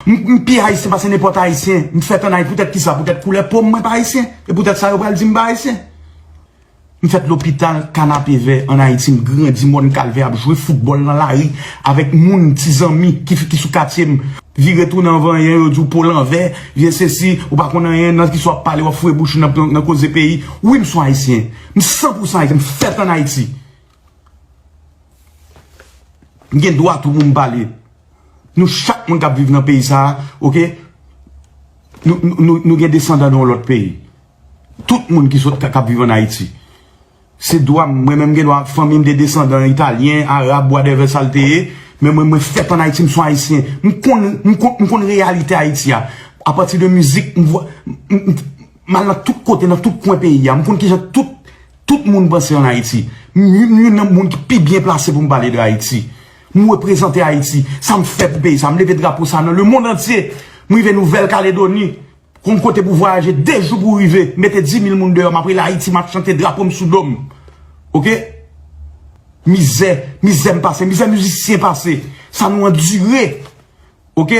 M pi Ayisyen pase nenpòt Ayisyen. M fèt an Ayiti. Poutèt kisa? Poutèt koulè po m mwen pa Ayisyen. E poutèt sa yo pral di m pa Ayisyen. M fèt lopital Kanapevè an Ayiti. M grandi Mòn Kalvè ap jwe foutbòl nan lari avèk moun, ti zanmi ki sou katye m. Vire tounen anvan anyen yo di w po lanvè, vye sesi, ou pa konn anyen, nan kisa w ap pale, w ap fouye bouch ou nan koze peyi. Wi m son Ayisyen. M san pou san Ayisyen. M fèt an Ayiti. M gen dwa tou pou m pale. Nou chak moun k ap viv nan peyi sa a, ok, nou gen desandan nan yon lòt peyi. Tout moun ki sot k ap viv an Ayiti. Se dwa m, mwen menm m gen dwa, fanmi m gen desandan Italyen, Arab, wadèvè sa l te ye, men mwen mwen fèt an Ayiti, m son Ayisyen. M konn, m konn, m konn reyalite Ayiti a. A pati de mizik, m vwa, m, m al nan tout kote, nan tout kwen peyi a. M konn ki jan tout. Tout moun panse an Ayiti. M youn nan moun ki pi byen plase pou m pale de Ayiti. M reprezante Ayiti. Sa m fè pou peyi sa. M leve drapo sa nan le mond antye. M rive Nouvèl Kaledoni. Konn kote pou vwayaje 2 jou pou rive. Mete 10,000 moun deyò. M ap rele Ayiti. M ap chante drapo m sou do m. Ok? Mizè. Mizè m pase. Mizè mizisyen pase. Sa nou andire. Ok?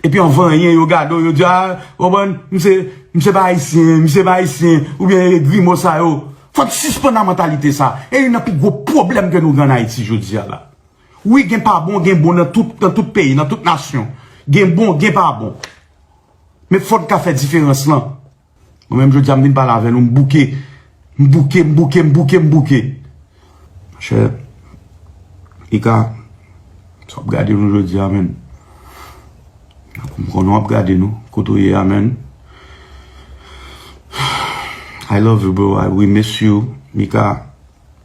Epi an vanyen yo gade w yo di a, ou konprann, misye, misye pa ayisyen, misye pa ayisyen, oubyen e grimo sa yo. Fò n sispann a mantalite sa. E youn nan pi gwo pwoblèm ke nou gen ann Ayiti jodi a la. Wi gen pa bon, gen bon nan tout, nan tout peyi, nan tout nasyon. Gen bon, gen pa bon. Men fò n ka fè diferans lan. Mwen menm jodi a m vin pale avè nou m bouke. M bouke, m bouke, m bouke, m bouke. Monchè, li ka, sa w ap gade nou jodi a menm. M konnen w ap gade nou, kote w ye a menm. I love you bro, I will miss you. Mika,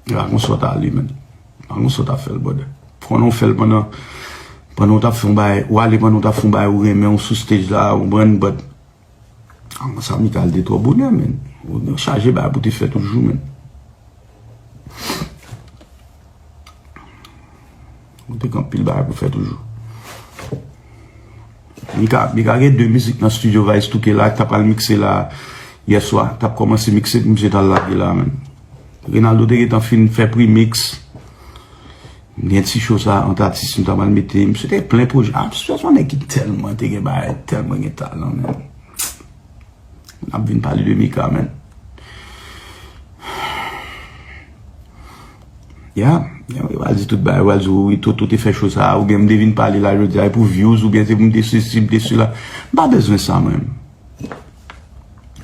m pa konn sa w ta ale menm. M pa konn sa w ta fè l brother. M konnen w fè l pandan, pandan w t ap fè yon bagay, w ale pandan w t ap fè yon bagay ou renmen, ou sou stage la, ou konprann but. Aman sa Michael te tro bonè men. Ou nan chaje ba pou te fè toujou men. Ou te kan pil ba pou fè toujou. Michael, Michael gen 2 mizik nan studio va estouke la. Tap al mikse la yeswa. Tap komanse mikse pou mse tal la di la men. Rinaldo te gen tan fin fè primiks. M gen ti show sa ant atis m tap al mete m se te plen pwojè a se yon nèg ki tèlman te gen bagay tèlman gen talan men m ap vin pale de Mika men ya yo pral di tout bagay yo pral di ou wi Toto te fè show sa ou byen m te vin pale la jodi a e pou vyouz ou byen se pou m te sesi m te sela m pa bezwen sa mwen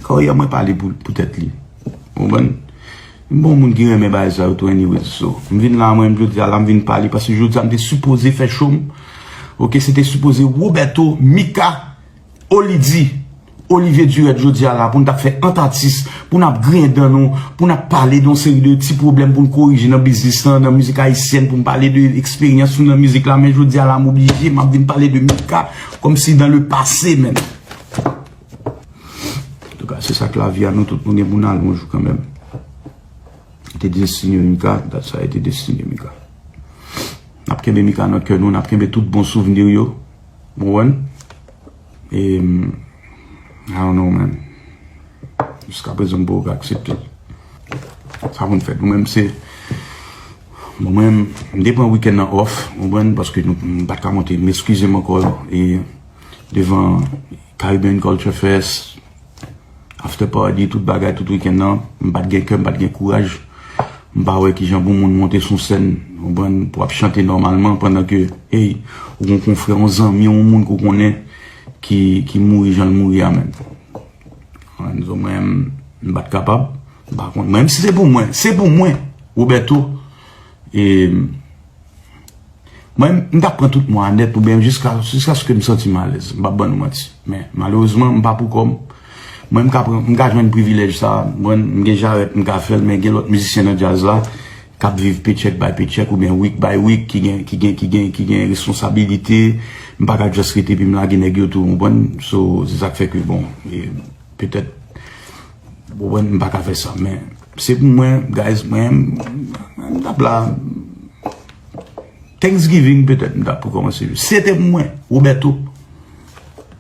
Carrière mwen pale pou tèt li. Ou konprann? M pa yon moun ki renmen bagay sa yo tou anyways. So, m vin la mwen menm jodi a la m vin pale paske jodi a m te sipoze fè show m. Ok, se te sipoze Roberto, Mika, Olidji, Olivier Durette jodi a la pou n ta fè ant atis, pou n ap griyen dan nou, pou n ap pale de yon seri de ti pwoblèm pou n korije nan biznis lan, nan mizik ayisyèn, pou m pale de eksperyans nou nan mizik la men jodi a la m oblije m ap vin pale de Mika kòmsi dan le pase menn. Antouka se sak lavi a nou tout nou gen pou nal yon jou kanmenm. Yo te destine Mika, dat sa yo te destine Mika. Nap kenbe Mika nan kè nou, nap kenbe tout bon souvenir yo. Bon wè. E I don't know man. Jiska prezan mpa ka aksepte. Sa konn fèt. Mwen menm se mwen menm mte pran weekend nan off, mwen menm paske mpat ka monte. Meskize m ankò. Devan Caribbean Culture Fest, After Party, tout bagay, tout weekend nan, m pat gen kè, m pat gen kouraj. M pa wè kijan pou moun monte sou sèn, konprann, pou ap chante nòmalman pandan ke, ey, ou gon konfrè, yon zanmi, yon moun ke w konnen ki mouri jan l mouri a menn. Anzo mwen menm, m pat kapab. M pa konn. Mwen menm si se pou mwen, se pou mwen, Roberto, e, Mwen, m ta pran tout mwa a nèt oubyen jiska jiskaske m santi m alèz. M pap ban nou manti. Men, malerezman, m pa pou kò m. Mwen m ka pran, m ka jwenn privilèj sa a. Mwen, m gen jarèt, m ka fè l men gen lòt mizisyen nan djaz la k ap viv pechèk bay pechèk oubyen week bay week ki gen ki gen ki gen ki gen responsabilite. M pa ka just rete epi m lage nèg yo tou, w konprann? So, se sa k fè ke bon, petèt. Bon wè m paka fè sa men se pou mwen guys mwen m tap la Thanksgiving petèt m tap pou kòmanse jwe se te pou mwen Roberto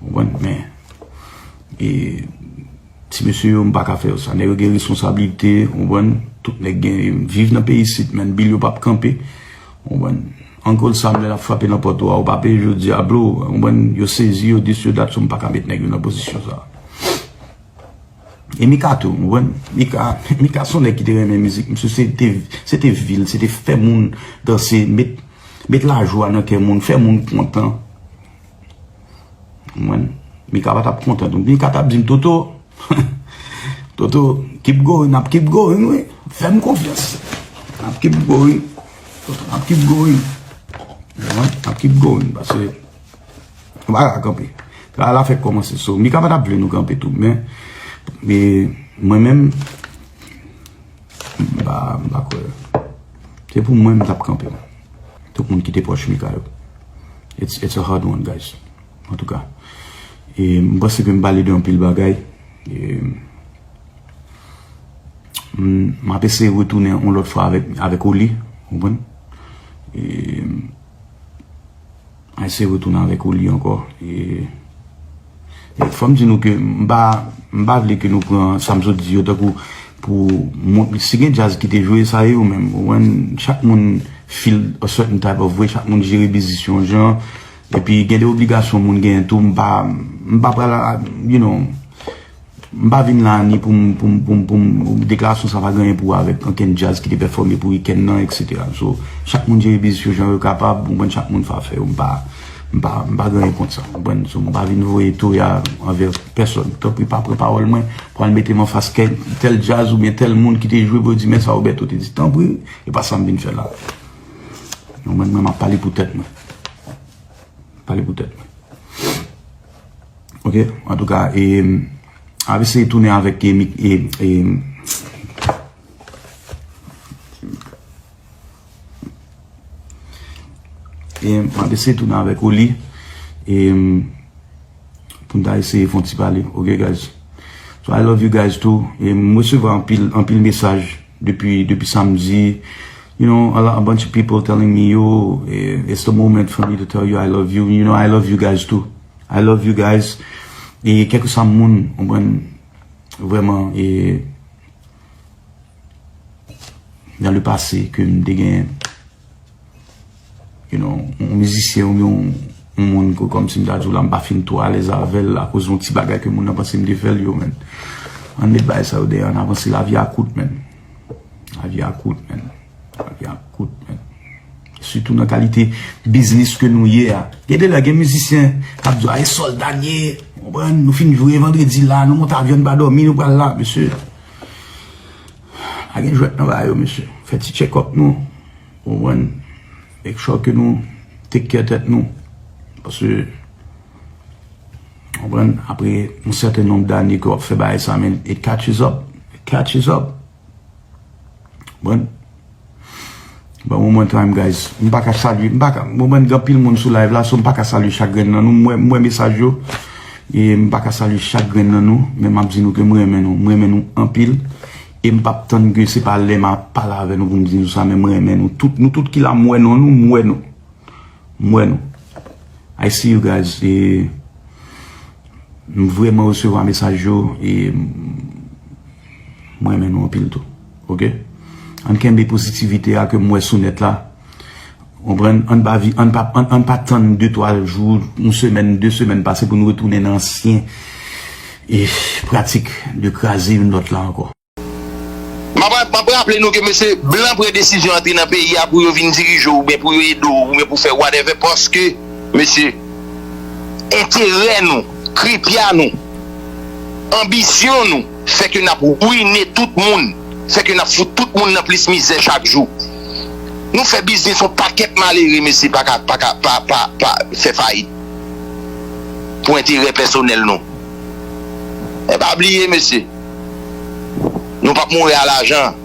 bon wè m men e ti mesye yo m paka fè yo sa nèg yo gen responsabilite bon wè m tout nèg gen yo viv nan peyi isit men bil yo pap kanpe bon wè m Uncle Sam lè lap frape nan pòt ou a ou pa peye jodi a bro bon wè m yo sezi yo dis yo dat sou m paka met nèg yo nan pozisyon sa. E Mika tou, ou konprann? Mika, Mika son nèg ki te renmen mizik. Misye se te, se te vi l, se te fè moun danse, met, met lajwa nan kè moun, fè moun kontan. Ou konprann? Mika pa t ap kontan tou. Mika t ap di m, Toto, Toto, keep going, n ap keep going wi. Fè m konfyans. N ap keep going. N ap keep going. Ou konprann? N ap keep going. Pase. Wala kanpe. Travay la fèk kòmanse so. Mika pa tap vle nou kanpe tou. Men, mwen men, mba, mba kwe. Se pou mwen mtap kanpe. Tout moun kite pòch Mika yo. It's, it's a hard one guys. En tout cas. E mba se ke mba lide yon pil bagay. E, mba pese retounen yon lòt fwa avèk, avèk Oli. Ou bon? E... Mwen se retounen avèk ou li ankò. E fòm di nou ke m pa m pa vle ke nou pran sa m sot di yo tankou pou moun si gen jazz ki te jwe sa e yo menm ou konprann chak moun feel a certain type of way chak moun jere biznis yo yon jan epi gen de obligasyon moun genyen tou m pa m pa pral you know. M pa vin la ni pou m, pou m, pou m, pou m, deklarasyon sa pa gen anyen pou wè avèk ankenn djaz ki te pèfòme pou weekend nan etc. So, chak moun jere biznis yo jan yo kapab, ou konprann, chak moun fè afè yo, m pa, m pa, m pa gen anyen kont sa, ou konprann. So, m pa vin voye toya anvè pèsòn. Tanpri pa pran pawòl mwen pou al mete m anfas kèk, tèl djaz oubyen tèl moun ki te jwe pou yo di men sa Roberto te di. Tanpri, e pa sa m vin fè la. Ou konprann, mwen m ap pale pou tèt mwen. Pale pou tèt mwen. Ok antouka eem ap eseye tounen avèk eem eem eem ap eseye tounen avèk ou li eem poun ta eseye fon ti pale ok guys so I love you guys too eem mwen resevwa anpil anpil mesaj depi depi samdi you know a bunch of people telling me yo it's the moment for me to tell you I love you you know I love you guys too. I love you guys e kèlke swa moun konprann vrèman e nan le pase ke m te gen you know yon mizisyen ou yon moun ke kòm si m ta di w la m pa fin twò alèz avèl akoz yon ti bagay ke moun nan panse m te fèl yo menn an met bay sa yo dèyè an avanse lavi a kout menn. Lavi a kout men. Lavi a kout men. Sitou nan kalite biznis ke nou ye a. Gen de lè gen mizisyen kap di a e solda n ye. Nou fin jwe vandredi la, nou monte avyon nou pa domi nou pral la. Mesye, pa gen jwèt nan ba yo mesye. Fè ti tchekòp nou. Ou mwen, make sure ke nou take care tèt nou. Paske Konprann? Apre yon sèten nonb dane ke w ap fè bagay sa men it catches up, it catches up. Konprann? Bon one more time guys, m pa ka salye, m pa ka, m wè gen anpil moun sou live la so m pa ka salye chak grenn nan nou, m wè, m wè mesaj yo e m pa ka salye chak grenn nan nou men m ap di nou ke m renmen nou, m renmen nou anpil e m pa p tann ke se pa lè m ap pale avè nou pou m di nou sa men m renmen nou tout, nou tout ki la m wè non nou, m wè nou. M wè nou. I see you guys e m vreman resevwa mesaj yo e m renmen nou anpil tou ok ann kenbe pozitivite a ke m wè sou nèt la konprann ann pa vi ann pa ann pa tann 2 3 jou yon semèn 2 semèn pase pou nou retounen nan ansyen e pratik de kraze youn lòt la ankò. Map raple nou ke mesye blan pran desizyon antre nan peyi a pou yo vin dirije w oubyen pou yo ede w oubyen pou fè whatever paske mesye enterè nou, kripya nou, anbisyon nou fè ke nap rwine tout moun, fè ke nap fout tout moun nan plis mizè chak jou. Nou fè biznis yon pakèt malere mesye paka pa fè fayit pou enterè pèsonèl nou. Men pa bliye mesye. Nou pap mouri a lajan.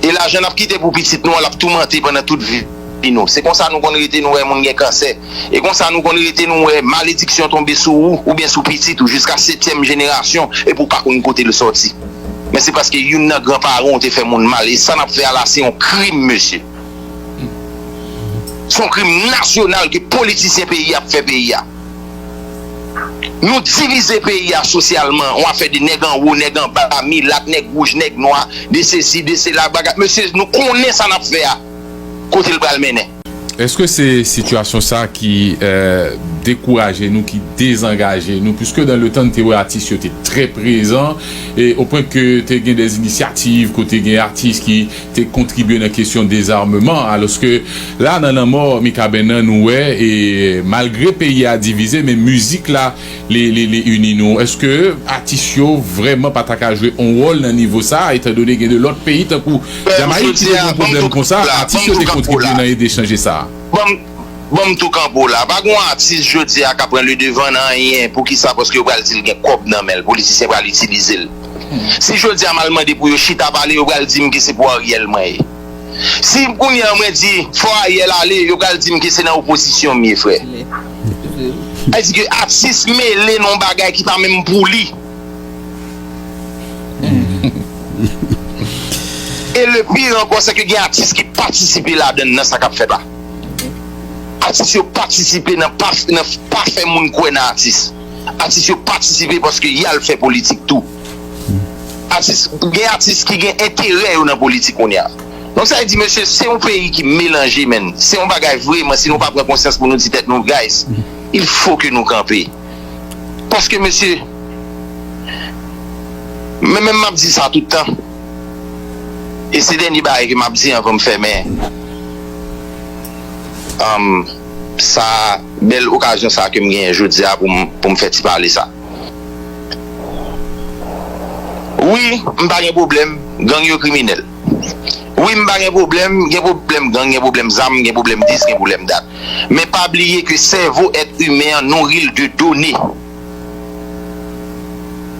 E lajan nap kite pou pitit nou an lap toumante pandan tout vi nou. Se konsa nou konn rete nou wè moun gen kansè. E konsa nou konn rete nou wè malediksyon tonbe sou ou oubyen sou pitit ou jiska setyèm jenerasyon epi ou pa konn kote l sòti. Men se paske youn nan gran paran ou te fè moun mal. E sa nap fè a la se yon krim mesye. Se yon krim nasyonal ke politisyen peyi a ap fè peyi a. Nou divize peyi a sosyalman, yon afè de nèg anwo, nèg anba, milat, nèg wouj, nèg nwa, de sesi, de sela, bagay, mesye nou konnen sa n ap fè a kote l pral mennen. Èske se sitiyasyon sa ki dekouraje nou, ki dezangaje nou? Puiske dan le tan n te wè atis yo te trè prezan, e o pwen ke te gen dè inisyativ kote gen atis ki te kontribye nan kesyon dezarmeman aloske la nan lanmò Mikaben nan nou wè e malgre peyi a divize men mizik la li li ini nou eske atis yo vrèman pa ta ka jwe on wòl nan nivo sa etan done gen de lòt peyi tankou Jamayik ki te gen pwoblèm konsa atis yo te kontribye nan ede chanje sa. Banm tou kanpe w la. Pa gon atis jodi a ka pran le devan nan anyen. Poukisa? Paske yo pral di l gen kòb nan men l. Politisyen pral itilize l. Si jodi a m al mande pou yo chita pale, yo pral di m ke se pou Ariel mwen ye. Si kounye an mwen di fò Ariel ale, yo pral di m ke se nan opozisyon m ye frè. Sa vle di ke atis mele nan yon bagay ki pa menm pou li. E le pire ankò se ke gen atis ki patisipe ladann nan sa k ap fèt la. Atis yo patisipe nan pa fè moun kwè nan atis. Atis yo patisipe paske y al fè politik tou. Atis, gen atis ki gen enterè yo nan politik kounye a. Donk sa vle di mesye se yon peyi ki melanje menn. Se yon bagay vreman si nou pa pran konsyans pou nou di tèt nou guys il fo ke nou kanpe. Paske mesye men menm m ap di sa tout tan. e se dènye bagay ke map di anvan m fèmen sa bèl okazyon sa kem genyen jodia pou m fè ti pale sa wi m pa gen pwoblèm gang yo kriminèl wi m pa gen pwoblèm gen pwoblèm gang gen pwoblèm zam gen pwoblèm dis gen pwoblèm dat men pa bliye ke sèvo èt imen an nouri l de done.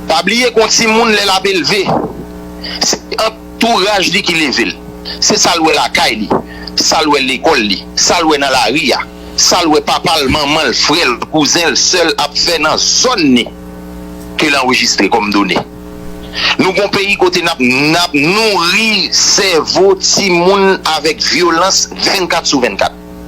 Pa bliye gon timoun lèl ap elve se antouraj li ki level se sal wè lakay li sal wè lekòl li sal wè nan lari a sal wè papal manmanl frèl kouzenl sèl ap fè nan zòn ni kel anrejistre kòm done nou gon peyi kote nap nap nouri sèvo timoun avèk vyolans 24 sou 24.